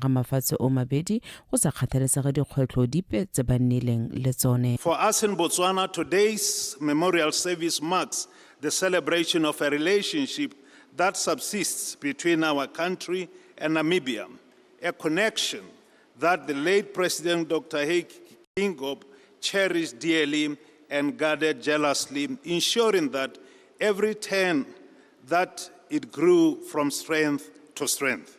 ga mafatshe o mabedi go sa kgathalesege dikgwetlho dipe tse ba nnileng le tsone. For us in Botswana, today's memorial service marks the celebration of a relationship that subsists between our country and Namibia, a connection that the late President Dr. Hage Geingob cherished dearly and guarded jealously, ensuring that every turn that it grew from strength to strength.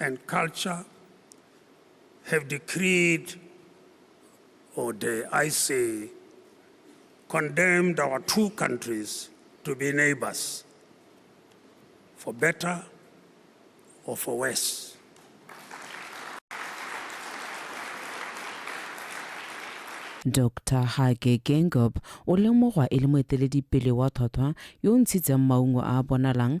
and culture have decreed, or dare I say, condemned our two countries to be neighbors, for better or for worse. dr hage gengob o lemogwa e le moeteledipele wa tlhotlhwa yo o ntshitseng maungo a a bonalang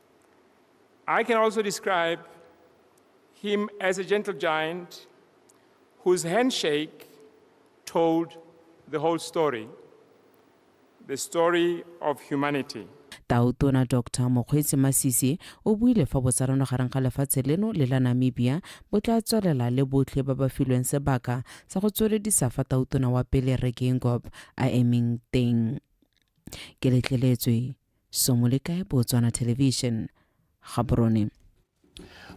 I can also describe him as a gentle giant whose handshake told the whole story, the story of humanity. Tautona Dr Mokgweetsi Masisi o buile fa botsarano gareng ga lefatshe leno le la Namibia bo tla tswelela le botlhe ba ba filweng sebaka sa go tsweledisa fa tautona wa pele Rre Geingob a emeng teng. Ke letleletswe somo le kae botswana television gaborone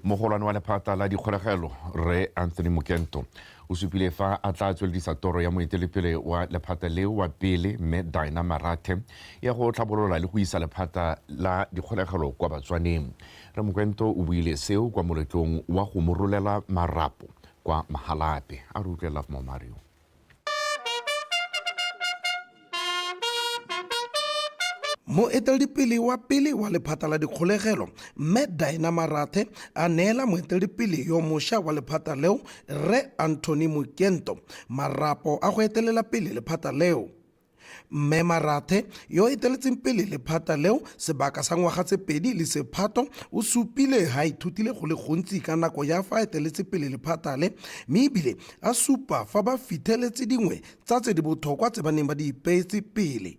mogolwane wa lephata la dikgolegelo rre anthony mokento o supile fa a tla tsweledisa toro ya moetelepele wa lephata leo wa pele mme dina marathe ya go tlhabolola le go isa lephata la dikgolegelo kwa batswaneng re mokento o buile seo kwa moletlong wa go morolela marapo kwa mahalape a re utlwelela mo mario moeteledipele wa pele wa lephata la dikgolegelo mme dina marathe a neela moeteledipele yo mošwa wa lephata leo rre anthony mokento marapo a go etelela pele lephata leo Mme Marathe, yo a eteletseng pele lephata leo sebaka sa ngwaga tse pedi le sephato, o supile ha a ithutile go le gontsi ka nako ya fa a eteletse pele lephata le mme e bile a supa fa ba fitheletse dingwe tsa tse di botlhokwa tse ba neng ba di ipeetse pele.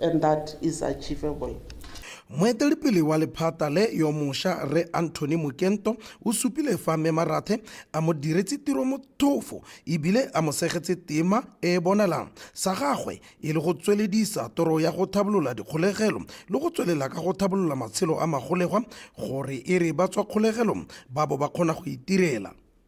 and that is achievable. Moetelepele wa lephata le yo mosha Rre Anthony Mokento o supile fa Mme Marathe a mo diretse tiro mothofo e bile a mo segetse tema e e bonalang sa gagwe e le go tsweledisa toro ya go thabolola dikgolegelo le go tswelela ka go thabolola matshelo a magolegwa gore e re ba tswa kgolegelong ba bo ba kgona go itirela.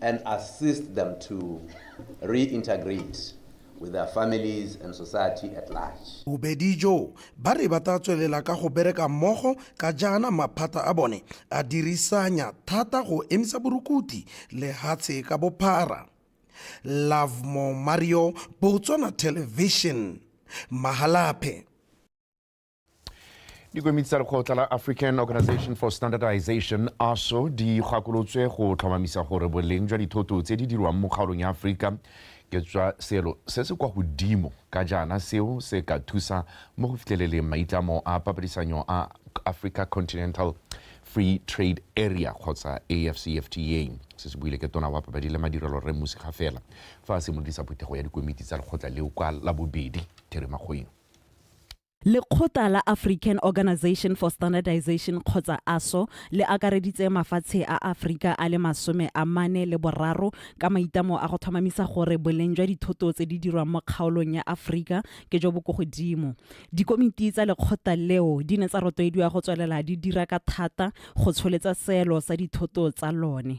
and assist them to reintegrate with their families and society at large. Bobedi jo ba re ba tla tswelela ka go bereka mmogo ka jaana maphata a bone a dirisanya thata go emisa borukuti lehatshe ka bophara. Lovemore Mario, Botswana Television, Mahalapye. dikomiti tsa lekgotla la african organization for standardization aso di gakolotswe go tlhomamisa gore boleng jwa dithoto tse di dirwang mo kgaolong ya aforika ke tswa selo se se kwa godimo ka jaana seo se ka thusa mo go fitlheleleng maitlamo a papadisanyo a africa continental free trade area kgotsa afcfta se se buile ke tona wa papadi le madirelo re musi ga fela fa a simolodisa phuthego ya dikomiti tsa lekgotla leo kwa labobedi therimakgoeng Lekgotla la African Organisation for Standardization kgotsa ASO le akareditse mafatshe a Aforika a le masome a mane le boraro ka maitlamo a go tlhomamisa gore boleng jwa dithoto tse di dirwang mo kgaolong ya Aforika ke jo bo ko godimo. Dikomiti tsa lekgotla leo di ne tsa rotloediwa go tswelela di dira ka thata go tsholetsa seelo sa dithoto tsa lone.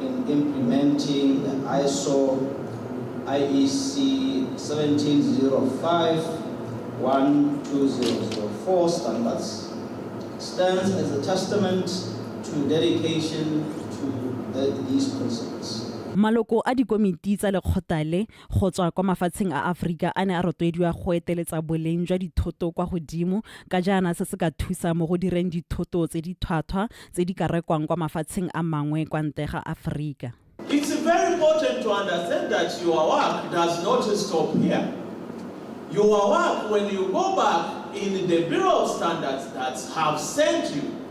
in implementing the ISO IEC 17051-2004 standards stands as a testament to dedication to the, these principles. Maloko a dikomiti tsa lekgotha le go tswa kwa mafatsheng a Aforika a ne a rotloediwa go eteletsa boleng jwa dithoto kwa godimo ka jaana se se ka thusa mo go direng dithoto tse di thwathwa tse di ka rekwang kwa mafatsheng a mangwe kwa ntle ga Aforika. It's very important to understand that your work does not stop here. Your work when you go back in the Bureau of Standards that have sent you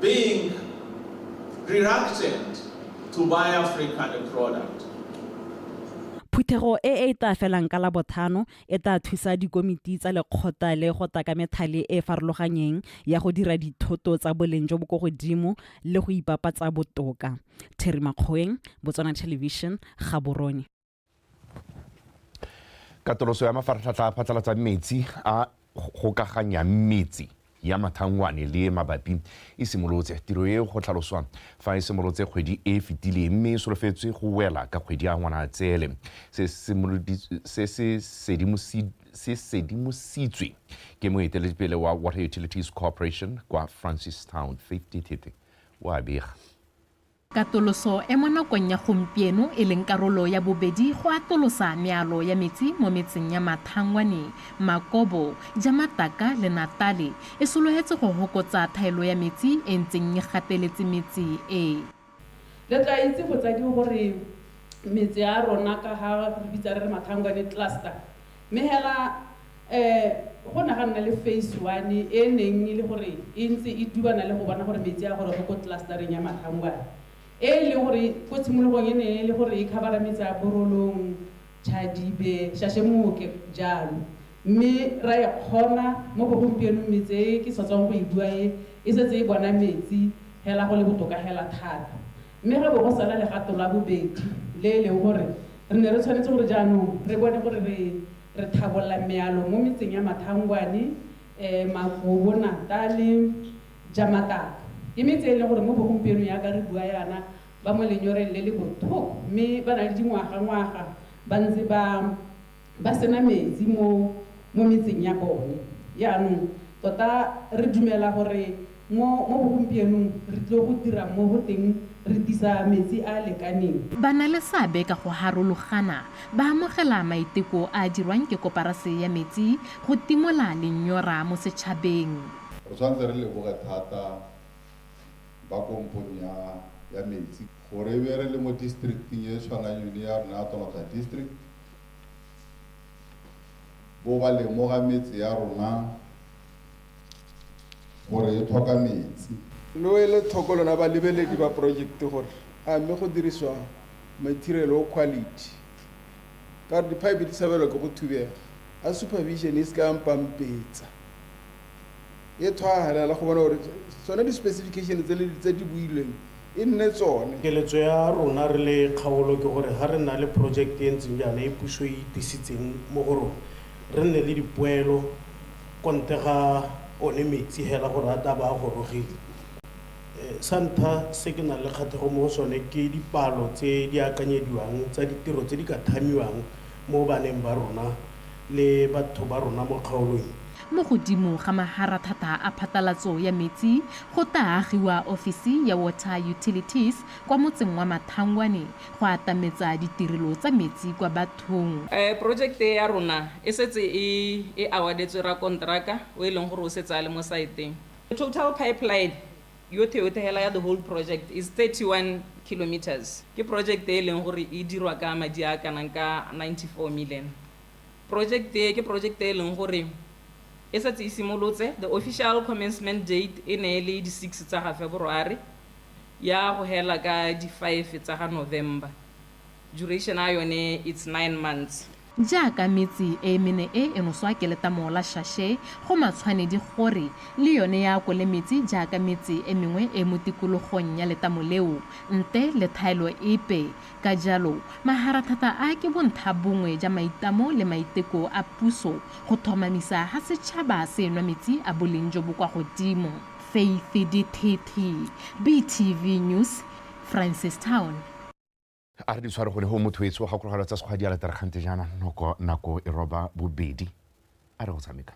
being reluctant to buy African product. Phuthego e e tla felang ka Labothano e tla thusa dikomiti tsa lekgotla le go tla ka methale e e farologanyeng ya go dira dithoto tsa boleng jo bo ko godimo le go ipapatsa botoka. Terry Makgoeng, Botswana Television, Gaborone. katoloso ya mafaratlhatlha a phatlalatsa metsi a gokaganyang metsi ya mathangwane le mabapi e simolotse tiro e go tlhaloswa fa e simolotse kgwedi e e fetileng mme e solofetswe go wela ka kgwedi ya ngwanatsele se se sedimositswe ke moeteledipele wa water utilities corporation kwa francistown fifty thete o a bega Katoloso e mo nakong ya gompieno e leng karolo ya bobedi go atolosa mealo ya metsi mo metseng ya Mathangwane, Makobo, Jamataka le Natale e sologetse go hokotsa thaelo ya metsi e ntseng e gateletse metse e. Le tla itse botsadi gore metse ya rona ka ga re bitsa re re Mathangwane Cluster Mme hela go ne ga nna le phase one e e neng e le gore e ntse e dubana le go bona gore metsi a goroge ko tlasetareng ya Matlhangwana e e leng gore ko tshimologong e ne e le gore e khabara metsi a Borolong, Chadibe, Shashemoke jalo. Mme ra e kgona mo bogompienong metse e ke sa tswang go e bua e e setse e bona metsi hela go le botoka hela thata. Mme go bo go sala legato la bobedi, le e leng gore re ne re tshwanetse gore jaanong re bone gore re re thabolola mealo mo metseng ya Mathangwane, Magobo, Natale, Jamataka. Ke metse e e leng gore mo bogompienong jaaka re bua jaana ba mo lenyoreng le le bothoko mme ba na le dingwagangwaga ba ntse ba Ba sena metsi mo mo metseng ya bone. Jaanong, tota re dumela gore mo mo bogompienong re tlile go dira mo go teng re tisa metsi a a lekaneng. Ba na le seabe ka go harologana. Ba amogela maiteko a a dirwang ke Koparase ya Metsi go timola lenyora mo setšhabeng. Re tshwanetse re leboge thata ba kompong ya ya metsi. Gore e be re le mo districting e e tshwanang yone ya rona ya Tonakgare District, bo ba lemoga metse ya rona gore e tlhoka metsi. Lo ele tlhoko lona balebeledi ba porojekte gore a mme go dirisiwa mathirelo o quality ka gore diphaepe di tshabelwa ke go thubega, a supervision e se ka ya mpampetsa e tshwanelela go bona gore tsone di-specification tse di builweng e nne tsone keletso ya rona re le kgaolo ke gore ga re na le project e ntseng jaana e puso e itisitseng mo go rona re nne le dipoelo konte ga one metsi hela gore a taba a gorogile eh, sa ntlha se ke nang le kgathego mo go sone ke dipalo tse di akanyediwang tsa ditiro tse di ka thamiwang mo baneng ba rona le batho ba rona mo kgaolong. Mo godimo ga maharathata a phatalatso ya metsi go taa agiwa ofisi ya Water Utilities kwa motseng wa Mathangwane go atametsa ditirelo tsa metsi kwa bathong. Porojekte e ya rona e setse e e awardetswe rakonteraka o e leng gore o setse a le mo saeteng. Total Pipeline Yotlhe yotlhe hela ya the whole project is 31 kilometers. Ke project e leng gore e dirwa ka madi a kanang ka 94 million. Project e ke project e leng gore e setse e simolotse. The official commencement date e ne e le di 6 tsa ga February ya go hela ka di 5 tsa ga November. Duration a yone it's 9 months. Jaaka metsi e e mene e e noswa ke letamo la shashe, go matshwanedi gore le yone e akole metsi jaaka metse e mengwe e e mo tikologong ya letamo leo, nte le thaelo epe. Ka jalo, maharathata a ke bonthabongwe ja maitamo le maiteko a puso go thomamisa ha setšhaba se enwa metsi a boleng jo bo kwa godimo. Faith Dithithi, BTV News, Francistown. a re di tshware go le go motho etso ga kologalo tsa sekgwa di ala tarakgante jaana noko nako e roba bobedi a re go tshameka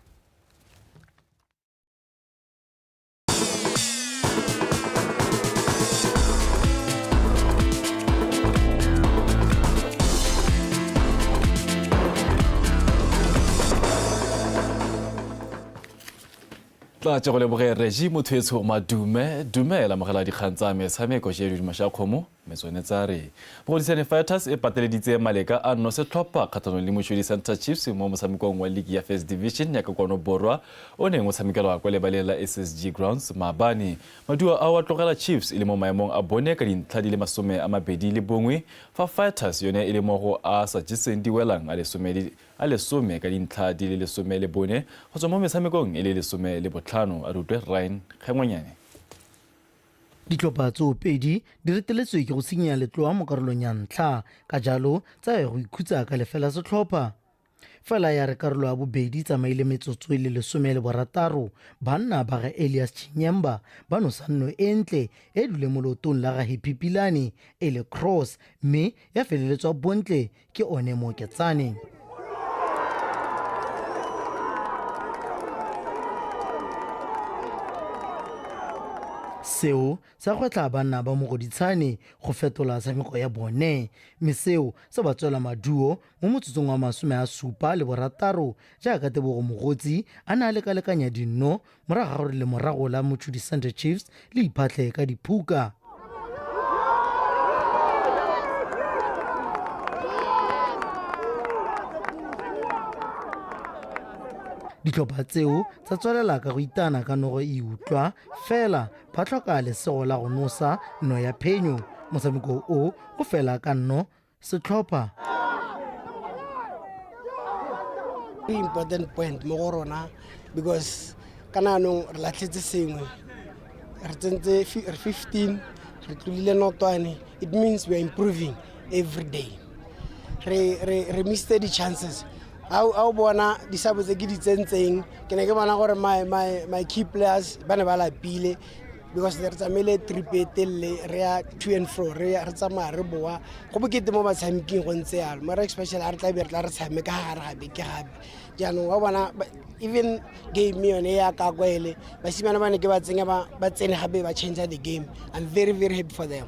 tla tse go leboge regi motho etsho madume dumela mogela dikgang tsa metshameko je didimo sha kgomo Metsonetsa a re Mogodisane Fighters e pateleditse maleka a nno setlhopha kgatlhanong le Moshwedi Centre Chiefs mo motshamekong wa ligi ya First Division ya ka kwano borwa o neng o tshamekelwa kwa lebaleng la SSG Grounds maabane. Maduo ao a tlogela Chiefs e le mo maemong a bone ka dintlha di le masome a mabedi le bongwe fa Fighters yone e le mo go a sa jeseng diwelang a lesome le a lesome ka dintlha di le lesome le bone go tswa mo metshamekong e le lesome le botlhano. A re utlwe Ryan Kgengwanyane. Ditlhopha tseo pedi di reteletswe ke go sinya letloa mo karolong ya ntlha, ka jalo tsa ya go ikhutsa ka lefela setlhopha. Fela ya re karolo ya bobedi tsamaile metsotso e le lesome le borataro, banna ba ga Elias Chinyemba ba nosa nno e ntle e dule mo leotong la ga Happy Pilane e le cross mme ya feleletswa bontle ke one moketsane seo sa gwetlha banna ba mogoditshane go fetola tshameko ya bone mme seo se ba tswela maduo mo motsotsong wa masome a supa le borataro jaaka tebogo mogotsi a ne a lekalekanya dinno morago ga gore lemorago la motšhudi sunday chiefs le iphatlhe ka diphuka ditlhopha tseo tsa tswelela ka go itana ka nogo e utlwa fela ba tlhoka lesego la go nosa no ya phenyo motshameko o o fela ka nno setlhopha ke important point mo go rona because ka naanong re latlhetse sengwe re tsentse re 15 re tlolile notwane it means we are improving every day re, re, re miste di-chances a o bona disabo tse ke di tsentseng ke ne ke bona gore my, my, my key players ba ne ba lapile because re tsamaile trip e telele re ya to and fro re ya- re tsamaya re boa go bokete mo batshameking go ntse yalo mara especially a re tla be re tla re tshameka gare ga beke gape jaanong wa bona ba- even game yone ya kako ele basimane ba ne ke ba tsenya ba ba tsene gape ba change the game i'm very very happy for them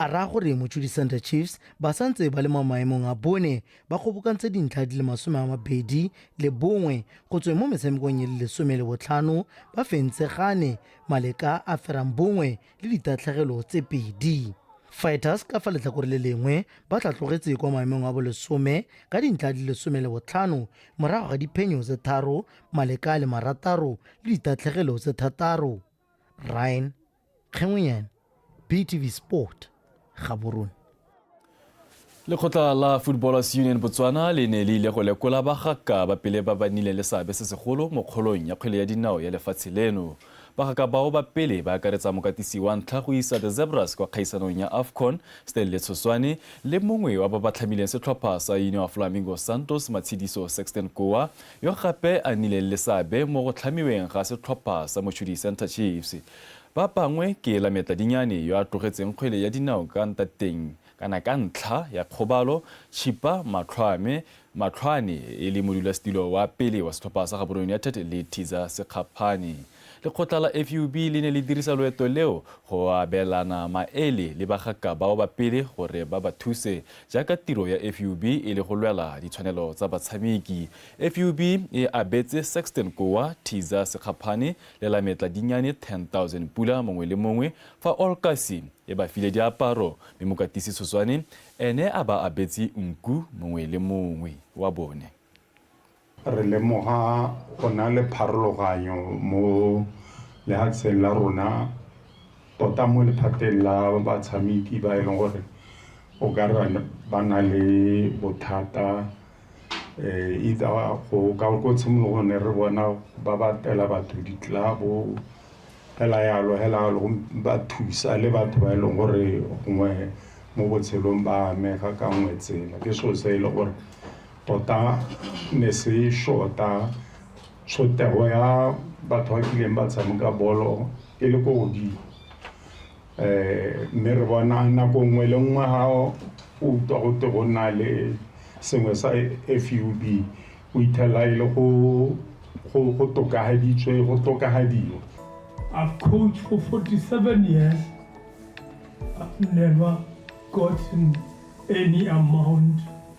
A raya gore Mochudi Centre Chiefs ba sa ntse ba le mo maemong a bone ba kgobokantse dintlha di le masome a mabedi le bongwe go tsweng mo metshamekong e le lesome le botlhano ba fentse gane maleka a ferang bongwe le ditatlhegelo tse pedi. Fighters ka fa letlhakore le lengwe ba tlhatlogetse kwa maemong a bolesome ka dintlha di le lesome le botlhano morago ga diphenyo tse tharo maleka a le marataro le ditatlhegelo tse thataro. Ryan Kgengwenyane, BTV Sport, Gaborone. lekgotla la footballers union botswana le ne le ile go lekola bagaka ba pele ba ba nnileng le seabe se segolo mo kgolong ya kgwele ya dinao ya lefatshe leno bagaka bao ba pele ba akaretsa mokatisi wa ntlha go isa the zebras kwa kgaisanong ya afcon stanley tshoswane le mongwe wa ba ba tlhamileng setlhopha sa union of flamingo santos matshidiso sexton koa yo gape a nnileng le seabe mo go tlhamiweng ga setlhopha sa Mochudi Centre Chiefs. Ba bangwe ke Lametla Dinyane yo a tlogetseng kgwele ya dinao ka ntateng kana ka ntlha ya kgobalo, Chipa Matlhwame, Matlhwane, e le modulasetilo wa pele wa setlhopha sa Gaborone United le Thiza Sekgaphane. Lekgotla la FUB le ne le dirisa loeto leo go abelana maele le bagaka bao ba pele gore ba ba thuse jaaka tiro ya FUB e le go lwela ditshwanelo tsa batshameki. FUB e abetse Sexton Kouwa, Thiza Sekgaphane le Lametla Dinyane 10,000 pula mongwe le mongwe fa All Kasi e ba file diaparo mme Mokatisi Tshoswane ene a ba abetse nku mongwe le mongwe wa bone. re lemoga go na le pharologanyo mo lehatsheng la rona tota mo lephateng la batshameki ba e leng gore o ka re ba na le bothata um either go ka ko tshimologong ne re bona ba batela batho ditlelabo hela yalo hela yalo ba thusa le batho ba e leng gore gongwe mo botshelong ba amega ka nngwe tsela ke selo se e le gore tota ne se shota tshotego ya batho ba kileng ba tshameka bolo e le ko godimo um mme re bona nako nngwe le nngwe ga o utlwa go te go na le sengwe sa fub o ithelela e le go tokafaditswe go tokafadiwa I've coached for 47 years. I've never gotten any amount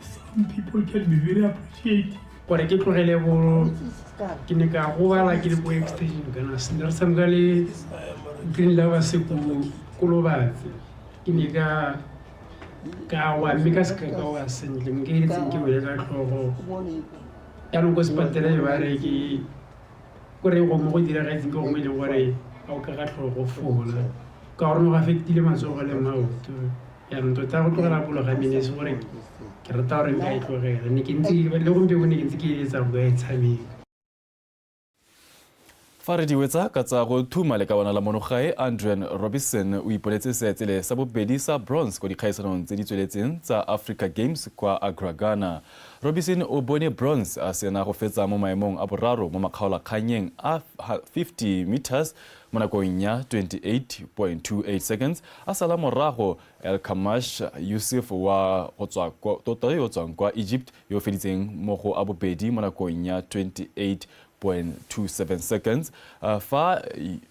some people can be very appreciative gore ke tlogele bo ke ne ka gobala ke le bo extension kana sendere sa mka le green lava se ko kolobatse ke ne ka ka wa mme ka seka ka wa sentle mo ke etseng ke boye ka tlhogo jaanong ko sepatela e bare ke kore go mo go diragetseng ke gongwe e leng gore ga o ka ka tlhogo fola ka gore no go affectile matsogo le maoto jaanong tota go tlogela polo ga mene se gore ke rata gore nka e tlogela ne ke ntse le gompieno ne ke ntse ke eletsa go ya e tshameka fa re diwetsa ka tsa go thuma le ka bona la monogae andrian robinson o ipoletse seetsele sa bobedi sa bronze kwa dikgaisanong tse di tsweletseng tsa africa games kwa agragana robinson o bone bronze a sena go fetsa mo maemong a boraro mo makgaolakgannyeng a 50 meters Mo nakong ya 28.28 seconds a sala morago, Elkamash Yusuf wa go tswa ko Tota yo o tswang kwa Egypt yo o feditseng mo go a bobedi mo nakong ya 28.27 seconds fa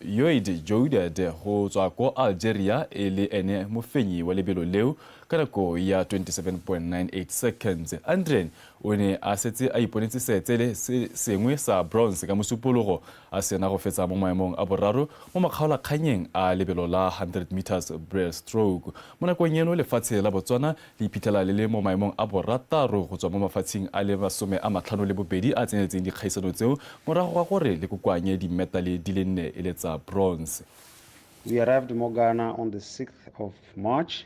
Yoid Jouded go tswa ko Algeria e le ene mofenyi wa lebelo leo ka nako ya 27.98 seconds. Andrien o ne a setse a iponetse seetsele se sengwe sa bronze ka Mosupologo A sena go fetsa mo maemong a boraro mo makgaolakgannyeng a lebelo la 100 metres breaststroke. Mo nakong eno lefatshe la Botswana le iphitlhela le le mo maemong a borataro go tswa mo mafatsheng a le masome a matlhano le bobedi a tseneletseng dikgaisano tseo morago ga gore le kokoanye dimmetale di le nne e le tsa bronze. We arrived mo Ghana on the 6th of March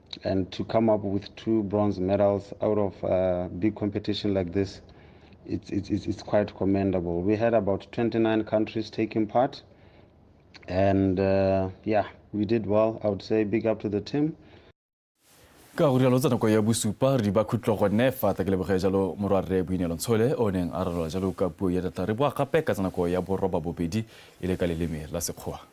And to come up with two bronze medals out of a big competition like this, it's, it's, it's quite commendable. We had about 29 countries taking part. And uh, yeah, we did well. I would say big up to the team. ka go rialo tsa nako ya bosupa re di ba khutlo gone fa ta ke leboge jalo morwarre boineelo ntshole o neng a ralola jalo ka puo ya data re boa gape ka tsa nako ya boroba bobedi e le ka leleme la sekgowa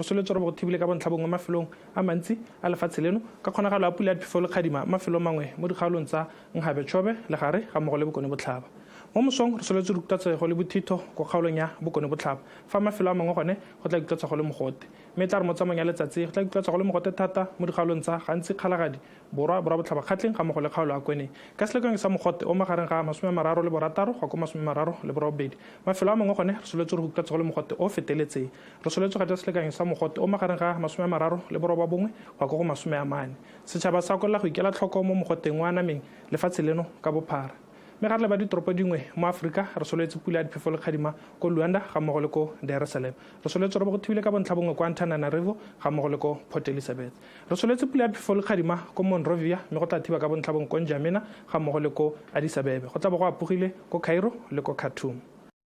re soletse gore bothibile ka bontlhabongwe mafelong a mantsi a lefatshe leno ka kgonagalo ya pula ya phefo le kgadima mafelong mangwe mo dikgaolong tsa nkgabe tshobe legare ga mmogo le bokone botlhaba mo mosong re soletse rukutatsego le bothitho kwa kgaolong ya bokone botlhaba fa mafelo a mangwe gone go tla ikutlwatswa go le mogote. Mme e tla re mo tsamaong ya letsatsi e, go tla ikutlwatswa go le mogote thata mo dikgaolong tsa, gantsi Kgalagadi, Borwa, Borwa Botlhabakgatleng ga mmogo le kgaolo ya Kweneng. Ka selekanyo sa mogote o magareng ga masome a mararo le borataro go ya ko masome a mararo le borobedi. Mafelo a mangwe gone re soletswe re go ikutlwatswa go le mogote o o feteletseng. Re soletswe ga ja selekanyo sa mogote o magareng ga masome a mararo le borobabongwe go ya ko go masome a mane. Setšhaba sa ko la go ikela tlhoko mo mogoteng o anameng lefatshe leno ka bophara. Mme ga tle ba ditoropo dingwe mo Aforika, re solwetse pula ya diphefo le kgadima ko Luanda ga mmogo le ko Dar es Salaam. Re solwetse robo go thibile ka bontlha bongwe ko Antananarivo ga mmogo le ko Port Elizabeth. Re solwetse pula ya diphefo le kgadima ko Monrovia mme go tla thiba ka bontlha bongwe ko N'Djamena ga mmogo le ko Addis Abebe. Go tla bo go apogile ko Cairo le ko Khartoum.